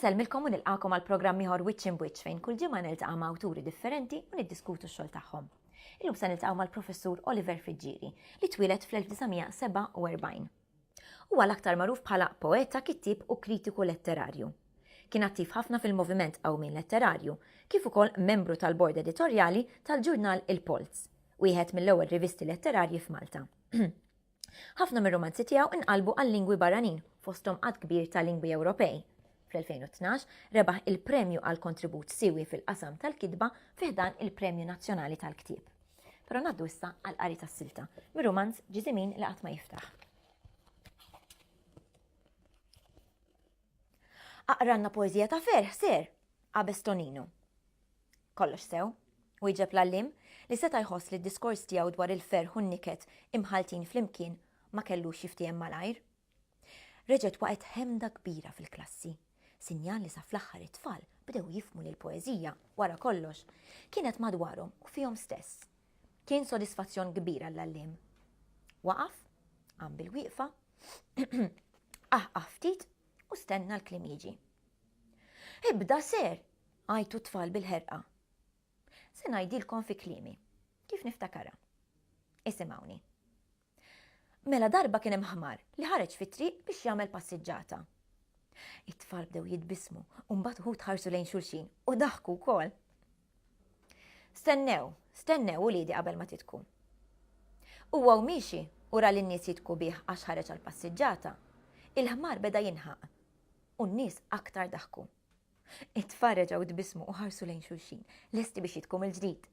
Insellmilkom u nilqakom għal programm ieħor Wiċċ in Wiċċ fejn kull ġimgħa niltaqa' ma' awturi differenti u niddiskutu x-xogħol tagħhom. Illum se niltaqgħu mal-Professur Oliver Friġġieri li twieled fl-1947. Huwa l-aktar magħruf bħala poeta, kittieb u kritiku letterarju. Kien attiv ħafna fil-moviment qawmien letterarju, kif ukoll membru tal-bord editorjali tal-ġurnal Il-Polz, wieħed mill-ewwel rivisti letterarji f'Malta. Ħafna mir-rumanzi tiegħu nqalbu għal lingwi barranin, fosthom għadd kbir ta' lingwi Ewropej. Fl-2012 rebaħ il-premju għal kontribut siwi fil-qasam tal-kitba fi ħdan il-Premju Nazzjonali tal-Ktieb. Però ngħaddu issa għal qari tas-silta, mir-rumanz Ġiżimin li qatt ma jiftaħ. Aqranna poezija ta' ferħ ser, qabes Tonino. Kollox sew, u jġeb l-allim li seta' jħoss li d-diskors tiegħu dwar il-ferħ u n-niket imħaltin flimkien ma kellux jiftiehem malajr. Reġgħet waqgħet ħemda kbira fil-klassi, sinjal li sa fl-aħħar it-tfal bdew jifhmu li l-poeżija, wara kollox, kienet madwarhom u fihom stess. Kien sodisfazzjon kbir għall-għalliem. Waqaf, qam bil-wieqfa, aħqaħ ftit u stenna l-klim jiġi. Ibda ser, għajtu tfal bil-ħerqa. Se ngħidilkom fi klimi, kif niftakara. Isimawni. Mela darba kien hemm ħmar li ħareġ fit-triq biex jagħmel passiġġata. It-tfal bdew jitbissmu u mbagħad uħud ħarsu lejn xulxin u daħku wkoll. Stennew, stennew uliedi qabel ma titku. Huwa u miexi u ra lin-nies jitku bih għax ħareġ għall-passiġġata, il-ħmar beda jinħaq u n-nies aktar daħku. It-tfal reġgħu tbissmu u ħarsu lejn xulxin, lesti biex jitku mill-ġdid.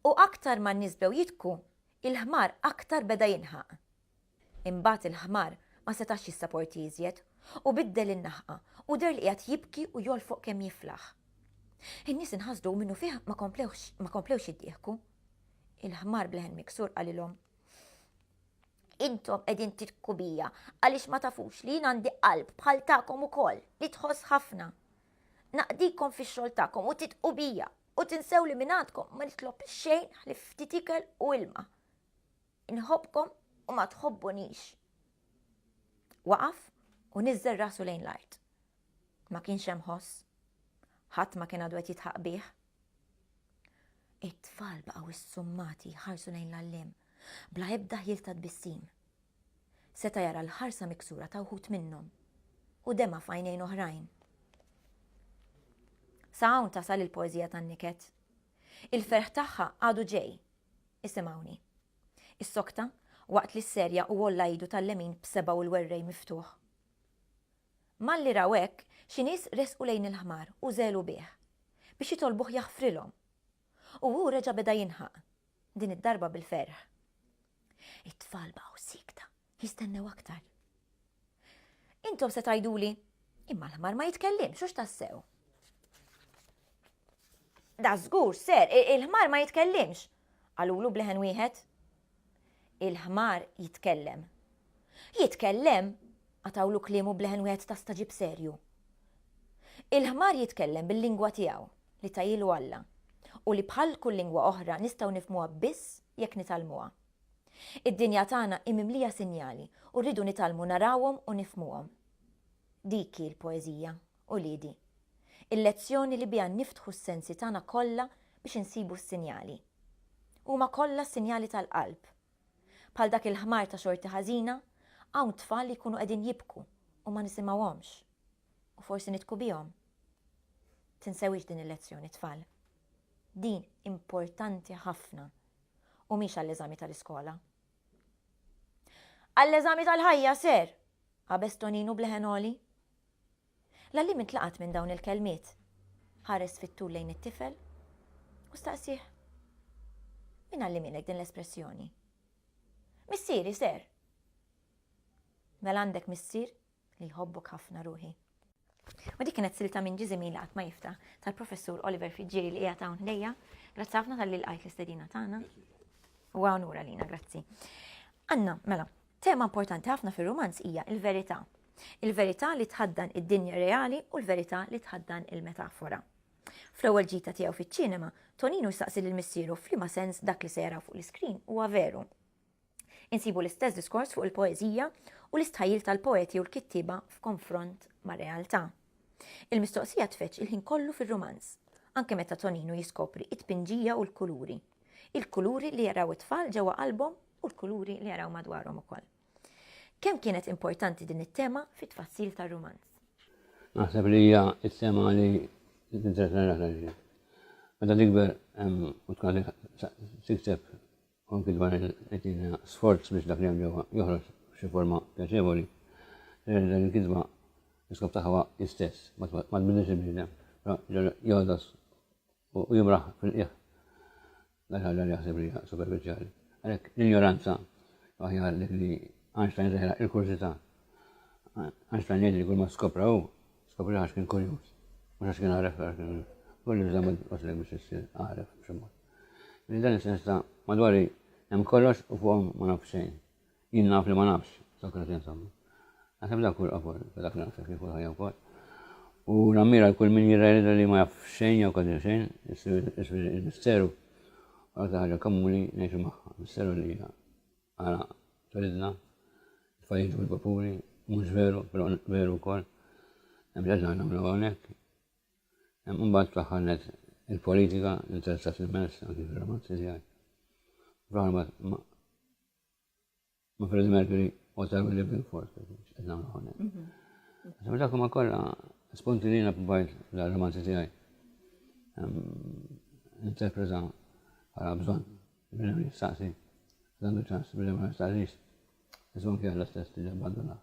U aktar ma n-nies bdew jitku, il-ħmar aktar beda jinħaq. Imbagħad il-ħmar ma setax jissaporti iżjed u biddel in-naħqa u deher li qiegħed jibki u jolfoq kemm jiflaħ. In-nies inħasdu minnu fih ma komplewx jiddieħku. Il-ħmar bleħen miksur qalilhom. Intom qegħdin tirku bija għaliex ma tafux li jien għandi qalb bħal tagħkom ukoll li tħoss ħafna. Naqdikom fix-xogħol tagħkom u titqu bija u tinsew li minn għandkom ma nitlob xejn ħlif ftit ikel u ilma. Inħobbkom u ma tħobbunix. Waqaf u niżżel rasu lejn l-art. Ma kienx hemm ħoss. Ħadd ma kien għadu qed jitħaq bih. It-tfal baqgħu issummati jħarsu lejn l-għalliem, bla ebda ħjiel ta' tbissim. Seta' jara l-ħarsa miksura ta' wħud minnhom u dema f'għajnejn oħrajn. Sa hawn tasal il-poeżija tan-niket. Il-ferħ tagħha għadu ġej. Isimgħuni. Is-sokta waqt li s-serja u għolla idu tal-lemin b'seba' u l-werrej miftuħ. Malli raw hekk, xi nies resqu lejn il-ħmar u żegħlu bih, biex jitolbuh jaħfrilhom. U hu reġa' beda jinħaq, din id-darba bil-ferħ. It-tfal baqgħu siekta, jistennew aktar. Intom se tgħiduli, imma l-ħmar ma jitkellimx, hux tassew. Da żgur, ser, il-ħmar ma jitkellimx, qalulu bleħen wieħed. Il-ħmar jitkellem. Jitkellem? qatgħulu kliemu b'leħen wieħed ta' staġib serju. Il-ħmar jitkellem bil-lingwa tiegħu, li tahielu Alla, u li bħal kull lingwa oħra nistgħu nifhmuha biss jekk nitgħallmuha. Id-dinja tagħna hi mimlija sinjali u rridu nitgħallmu narawhom u nifhmuhom. Dik hi l-poeżija. Uliedi, il-lezzjoni li biha niftħu s-sensi tagħna kollha biex insibu s-sinjali. Huma kollha sinjali tal-qalb. Bħal dak il-ħmar ta' xorti ħażina, hawn tfal li jkunu qegħdin jibku u ma nisimgħuhomx. U forsi nidhku bihom. Tinsewhiex din il-lezzjoni, tfal. Din importanti ħafna u mhix għall-eżami tal-iskola. Għall-eżami tal-ħajja, ser! qabeż Toninu b'leħen għoli. L-għalliem intlaqat minn dawn il-kelmiet. Ħares fit-tul lejn it-tifel u staqsieh, Min għallimilek din l-espressjoni? Missieri, ser! Mela għandek missier? li jħobbok ħafna ruħi. U dik kienet silta minn ġizimi li ma jifta tal-professur Oliver Friġġieri li qiegħed hawn ħdejja. Grazzi ħafna tal-li lqajt l-istedina tagħna. U għanura lina, grazzi. Anna, mela, tema importanti ħafna fir-romanz hija il-verità. Il-verità li tħaddan id-dinja reali u l-verità li tħaddan il-metafora. Fl-ewwel ġita tiegħu fiċ-ċinema, Tonino saqsi lil missieru f'liema sens dak li se jaraw fuq l-iskrin huwa veru. Insibu l-istess diskors fuq il-poeżija u l-istħajjil tal-poeti u l-kittieba f'konfront mar-realtà. Il-mistoqsija tfeġġ il-ħin kollu fir-rumanz, anke meta Toninu jiskopri t-tpinġija u l-kuluri. Il-kuluri li jaraw it-tfal ġewwa qalbhom u l-kuluri li jaraw madwarhom ukoll. Kemm kienet importanti din it-tema fit-tfassil tar-rumanz? Naħseb li hija t-tema li tinteressa l-aktar Meta tikber u tkun tikteb u anki dwar il-qegħdin sforz biex dak li hemm ġewwa joħroġ f'xi forma pjaċevoli, jidher li l-kitba l-iskop tagħha huwa l-istess, ma tbiddilx il-bniedem, però jogħdos u jimraħ fil-qiegħ dak ħaġa li jaħseb li hija superfiċjali. Għalhekk l-injoranza aħjar dik li Einstein żeħra il-kurżità. Einstein jgħid li kull ma skopra hu, skopri għax kien kurjuż, mhux għax kien għaref għax kien kurjuż. Kulli żammel waslek biex issir għaref b'xi mod. Li dan is-sens ta' madwari hemm kollox u fuqhom ma naf xejn. Jien naf li ma nafx, Sokrati insomma. Naħseb dak hu l-qofol ta' dak li naħseb fih u l-ħajja wkoll. U nammira l kull min jirrealizza li ma jaf xejn jew kważi xejn, isir il-misteru u l-aktar ħaġa komuni ngħixu magħha, misteru li hija għala twelidna, tfajjiġ bil-vapuri, mhux veru, però veru wkoll. Hemm ġaġa nagħmlu hawnhekk, Imbagħad fl-aħħar net il-politika interessat immens anki fir-romanzi tiegħi. Fl-aħħar ma ma Freddie Mercury u ta' Willie Billford, qed nagħmlu hawnhekk. Mhm. Dak ma kollha spunti li jiena provajt l-romanzi tiegħi. Interpreta bħala bżonn, biex ma jistaqsi, dan il-ċans biex ma jistaqsix. Iżon kien l-istess li abbandunat.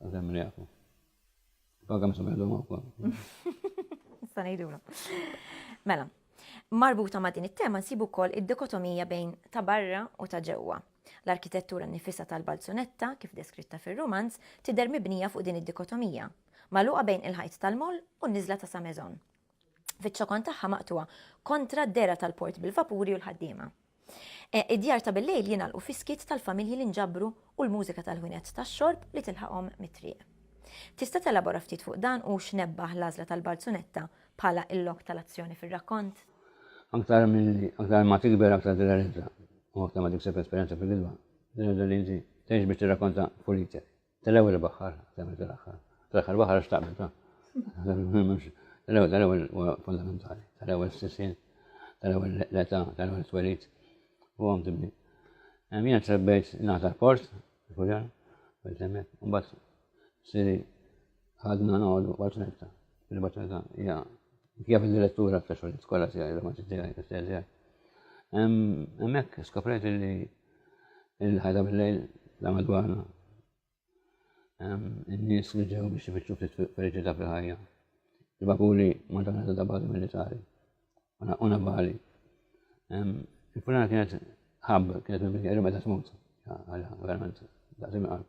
Għazem mrijaku. Baga msum għedu mawkom. Sanajdu Mela, marbuta ma' din it-tema nsibu kol id-dikotomija bejn ta' barra u ta' ġewwa. L-arkitettura nifisa tal-balzunetta, kif deskritta fil-romanz, tider mibnija fuq din id-dikotomija, maluqa bejn il-ħajt tal-moll u n-nizla ta' Samezon. fiċ-ċokon tagħha maqtugħa kontra d-dehra tal-port bil-vapuri u l-ħaddiema. Eh, id-djar ta' bil-lejl jingħalqu fis-skiet tal-familji li nġabru u l-mużika tal-ħwienet tax-xorb li tilħaqhom mit-triq. Tista' telabora ftit fuq dan u x'nebbaħ l-għażla tal-balzunetta bħala il-lok tal-azzjoni fir-rakkont? Aktar milli aktar ma tikber aktar tirrealizza u aktar ma tikseb esperjenza fil-gidba, tirrealizza li inti tgħix biex tirrakkonta fulitek. Tal-ewwel baħħar, tal-ewwel tal-aħħar. Tal-aħħar baħħar għax taqbel ta'. Tal-ewwel tal-ewwel huwa fundamentali. Tal-ewwel sisin, tal-ewwel l-età, tal-ewwel twelit u għom tibni. Għamina trebbejt nata port, kujan, bil-temmet, un bat siri ħadna noqdu baċnetta. Il-baċnetta hija kif il-direttura ta' xogħol skola tiegħi, l-romanzi tiegħi, l-istess tiegħi. Hemmhekk skoprejt li Il-ħajta bil-lejl ta' madwarna. In-nies li ġew biex ifittxu ftit feliċità fil-ħajja. Il-vapuri ma tagħna ta' bażi militari. U navali. Il-fulana kienet ħab, kienet minn bikjeru meta tmut. Verament, daqsim qalb.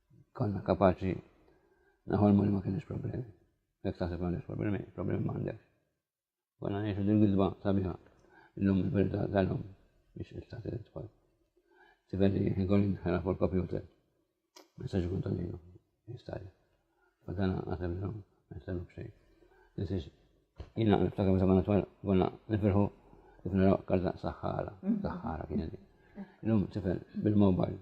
Konna kapaċi naħolmu li ma kienx problemi. Jekk taħseb ma għandekx problemi, problemi ma għandekx. Konna ngħixu din gidba sabiħa. Illum il-verità tal-lum biex il-tat il-tfal. Tivelli jħigolin ħana fuq il-kompjuter. Messaġi kontaninu, jistaj. Għadana għasem l-lum, għasem bxej. Nisiex, jina niftakar meta konna twal, konna nifirħu kif naraw karta saħħara, saħħara kien Illum tifel bil-mobile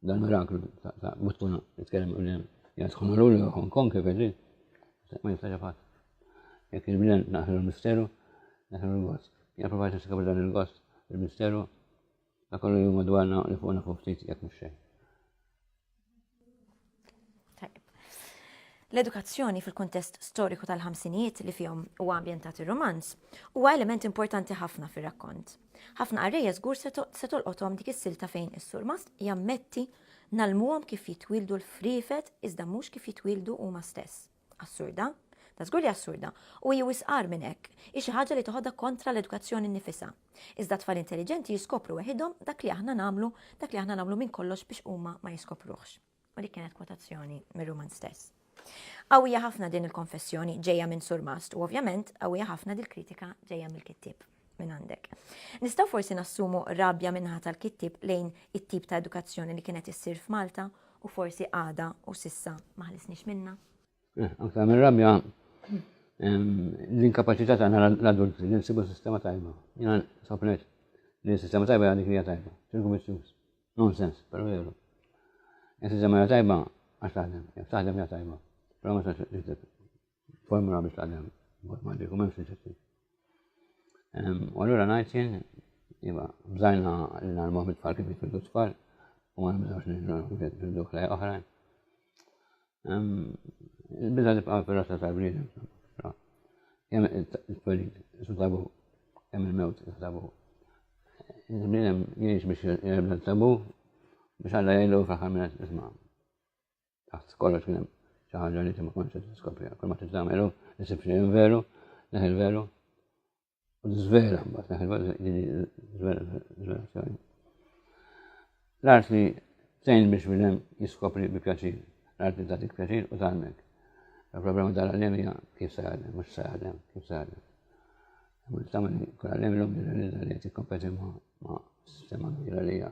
Dan miraklu ta' mhux tkun nitkellem u lem jadħu maruli u Hong Kong kif ġi. Ma jistax fatt. Jekk il-bnen naħlu l-misteru, naħlu l-gost. Jien provajt niskab dan il-gost, il-misteru, ta' kollu jum madwarna li fuqna fuq ftit jekk mhux xejn. L-edukazzjoni fil-kuntest storiku tal-ħamsinijiet li fihom huwa ambjentat ir-romanz huwa element importanti ħafna fir-rakkont. Ħafna qarrejja żgur se tolqothom dik is-silta fejn is-surmast jammetti nalmuhom kif jitwildu l-friefet iżda mhux kif jitwildu huma stess. Assurda? Da żgur li assurda, u hi wisqar minn hekk, hi xi ħaġa li toħodha kontra l-edukazzjoni nnifisha. Iżda tfal intelliġenti jiskopru weħidhom dak li aħna nagħmlu, dak li aħna nagħmlu minn kollox biex huma ma jiskopruhx. U dik kienet kwotazzjoni mir-ruman stess. Qawwija ħafna din il-konfessjoni ġejja minn Surmast u ovvjament qawwija ħafna dil-kritika ġejja mill-kittieb. minn għandek. Nistgħu forsi nassumu rabja minnaħa tal-kittib lejn it-tip ta' edukazzjoni li kienet issir f'Malta u forsi għada u sissa maħlisniex minna. Eh, anka minn rabja l-inkapacità ta' l-adulti li nsibu sistema tajba. Jena sopnet li sistema tajba għandi krija tajba. Ċirku missjus. Nonsens, pero jeru. Sistema tajba għax taħdem, taħdem ja tajba. Pero ma taħdem. Formula biex tgħallem matematiku m'hemmx riċetti. U allura ngħid jien, iva, bżajna li nagħlmu mit-tfal kif jitwildu tfal u ma nibżgħux nirġgħu kif jitwildu ħlejja oħrajn. Il-biża tibqa' fir-rassa tal-bniedem. Kemm it-twelid tabu, kemm il-mewt tabu. Il-bniedem jgħix biex jgħibda tabu biex għalla jgħidu fl-aħħar minnet isma' Taħt kollox kien hemm xi ħaġa li ma kontx qed tiskopriha. Kull ma titagħmelu isib xi veru, neħi l-veru. U żvela mbagħad neħi l-veru żvelazzjoni. L-arti tgħin biex minn hemm jiskopri bi pjaċir. L-arti tagħtik pjaċir u tgħallmek. Il-problema tal-għalem hija kif se għallem, mhux se għallem, kif se għallem. Imma tagħmel kull għallem l-lum jirrealizza li qed jikkompeti ma' sistema kbira li hija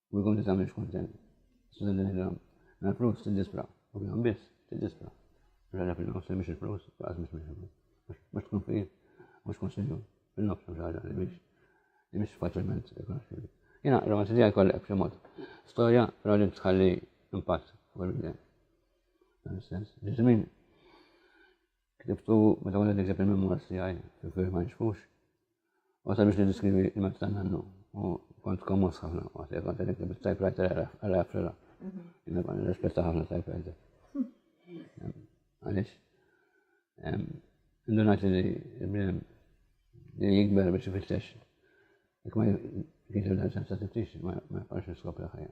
u jkun tista' mhix kontent. Susan Telegram, mela flus tiddispra, u bihom biss tiddispra. Mhux għadha fil-nofs li mhix il-flus, laqas mhix minn mhux tkun fil mhux konsilju fil-nofs mhux ħaġa li mhix li mhix faċilment rikonoxxibli. Jiena romanzi tiegħi kollha b'xi mod. Storja però li tħalli impatt fuq il-bidem. Dan is-sens. Ġiżmin Ktibtu meta kont qed nikteb il-memoirs tiegħi fil-firm ma nixfux. U sabiex niddiskrivi il-mezz ta' nannu. U kont kommos ħafna waqt li kont qed nikteb il-typewriter għal Afrila. Jien kont nirrispetta ħafna typewriter. Għaliex? Indunajt li il-bniem li jikber biex ifittex. Jekk ma kienx il-sensa tiftix ma jaqax niskopri ħajja.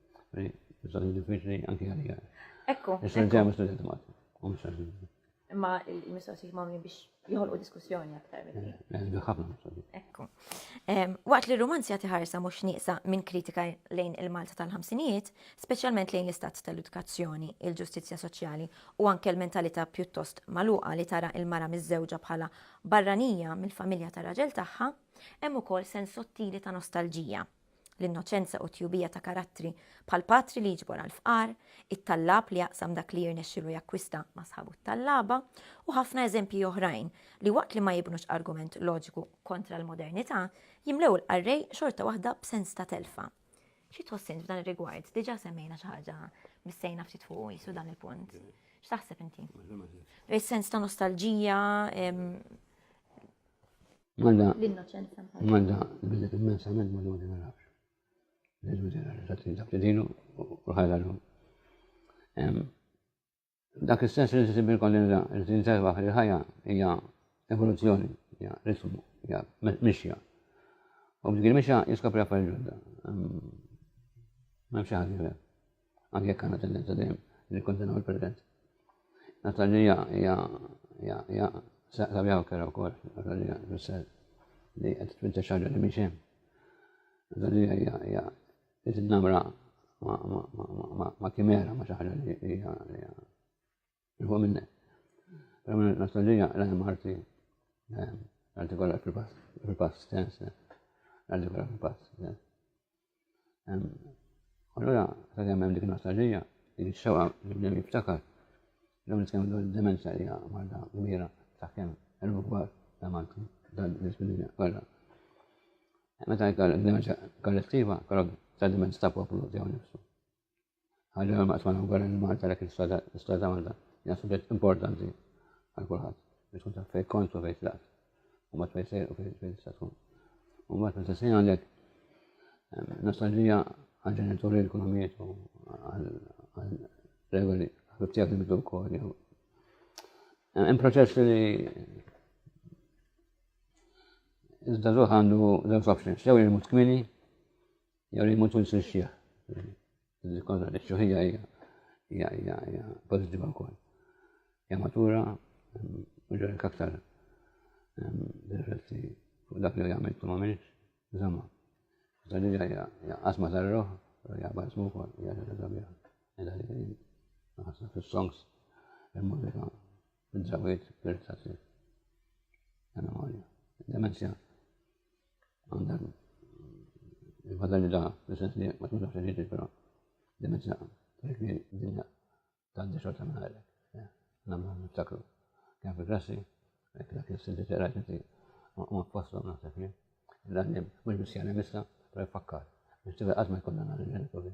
Mistoqsija diffiċli anki għalija. Ekku. Issa ġeja mistoqsija Malti. Imma il-mistoqsijiet ma' biex jħolqu diskussjoni aktar minn eh, eh, ħafna mistoqsijiet. Ekku. Waqt li r-romanz jagħti ħarsa mhux nieqsa minn kritika lejn il-Malta tal-ħamsinijiet, speċjalment lejn l-istat tal-edukazzjoni, il-ġustizzja soċjali u anke l-mentalità pjuttost maluqa li tara il-mara miż-żewġa bħala barranija mill-familja tar-raġel tagħha, hemm ukoll sens sottili ta' nostalġija l-innoċenza u t-tjubija ta' karattri bħal patri li jiġbor għall-fqar, it-tallab li jaqsam dak li jirnexxilu jakkwista ma' sħabu t-tallaba, u ħafna eżempji oħrajn li waqt li ma jibnux argument loġiku kontra l-modernità, jimlew il-qarrej xorta waħda b'sens ta' telfa. Xi tħoss int f'dan ir-rigward? Diġà semmejna xi ħaġa bissejna ftit fuq jisu dan il-punt. X'taħseb inti? Is-sens ta' nostalġija, Manda. L-innoċenza. Manda, billi immensament ma dodi ma nafx. L-ilmu ġenerali, ta' trin dak li dinu u ħajla l-lum. Dak istess li tisib il-kollinza, li tinservaħ li ħajja hija evoluzzjoni, hija ritmu, hija mixja. U b'dik il-mixja jiskopri affarijiet ġodda. Ma nafx ħaġa Anke jekk għandna tendenza dejjem nikkondenaw il-President. Natalija hija hija sabjaw kera wkoll, Natalija fisser li qed twinta xaġa li mhix hemm. Natalija hija hija qed namra ma kimera ma xi ħaġa li hija Iħu minne. Għamil nostalġija l-għem arti. Għalti kolla fil-pass, fil-pass stess. Għalti kolla fil-pass stess. Allora, sa' kemm hemm dik nostalġija, dik ix-xewqa li bdew jiftakar. Dawn nitkellmu dwar id-demenza li hija marda kbira sa' kemm elbu kbar ta' Malti dal-disabilità kollha. Meta jkollok demenza kollettiva, kollok ta' demenza ta' poplu tiegħu nifsu. Ħaġa ma tfana wkoll li Malta dak l-istat ta' Malta hija suġġett importanti għal kulħadd biex tkun taf fejn kont u fejn tlaqt u ma fejn sejr u fejn tista' tkun. U mbagħad meta sejn għandek ehm, nostalġija għal ġenituri li kunu mietu għal regoli ħabib tiegħek li mitu wkoll jew. Ehm, hemm proċess li iżda żuħ għandu żewġ options, jew jimut kmini Jari ma tkun sexxieħ. Konna li xuħija hija hija hija hija pożittiva wkoll. Hija matura ġorek mm, aktar mm, rifletti fuq dak li jagħmel tu m'għamilx, żamma. Dan hija hija qasma tar-roħ, hija basmu wkoll, hija ġorek sabiħ. Illa li naħseb fis-songs il-mużika Id-drawiet irritati. Memoria. Demenzja. Għandek il-fadali da, l-sens li ma tmux għaxħin ġiġi, pero demenzja. Dik li dinja ta' d-dixor ta' minna namlu niftakru. Kien fil-klassi, dak il-sinti t rajt inti, ma posto naħseb jien. Dan mux bis jgħanem issa, pero jfakkar. Biex tibqa għazma jkollna għal-ġenituri.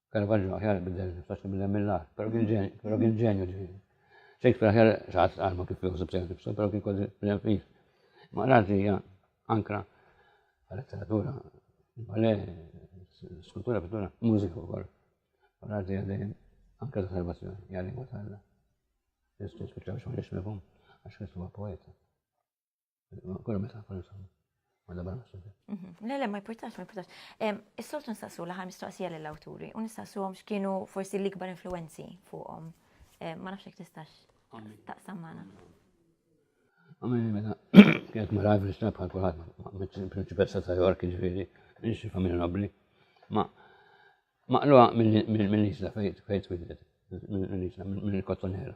Caravaggio aħjar bidel niftax bidel mill-ar, pero kien ġenju, pero kien ġenju ġifieri. Shakespeare aħjar xaħat għalma kif jħosib sejn nifsu, pero kien kważi bidel fih. Ma razi hija ankra letteratura, bale, skultura, pittura, mużika wkoll. Razi hija dejjem ankra ta' salvazzjoni, hija lingwa tal-Alla. Jistgħu spiċċaw xogħol jixmifhom għax Kristu huwa poeta. Kollu meta kollu samu. Għalla barra xorta. Mhm. Le, le, ma jportax, ma jportax. Is-soltu nistaqsu laħar mistoqsija l-awturi u nistaqsu għom xkienu forsi l-ikbar influenzi fuqom. Ma nafxek tistax taqsam maħna. Għamil meta kienet mara għajf l-istra bħal kulħadd ma' meċċin prinċipessa ta' York ġifieri, nixi familja nobbli. Ma' maqluha mill-isla fejt fejt twidet, mill-isla, mill-kottonera.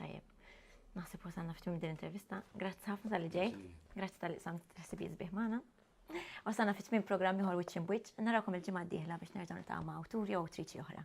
Tajjeb. Naħseb wasalna f'tim din intervista. Grazzi ħafna tal-li ġej. Grazzi tal-li sam t-ħsibi jizbih maħna. Wasalna fit tmien programmi ħor wiċċin bwiċ. Narakom il-ġimgħa d-dieħla biex nerġgħu nitgħu ma' awturi u triċi oħra.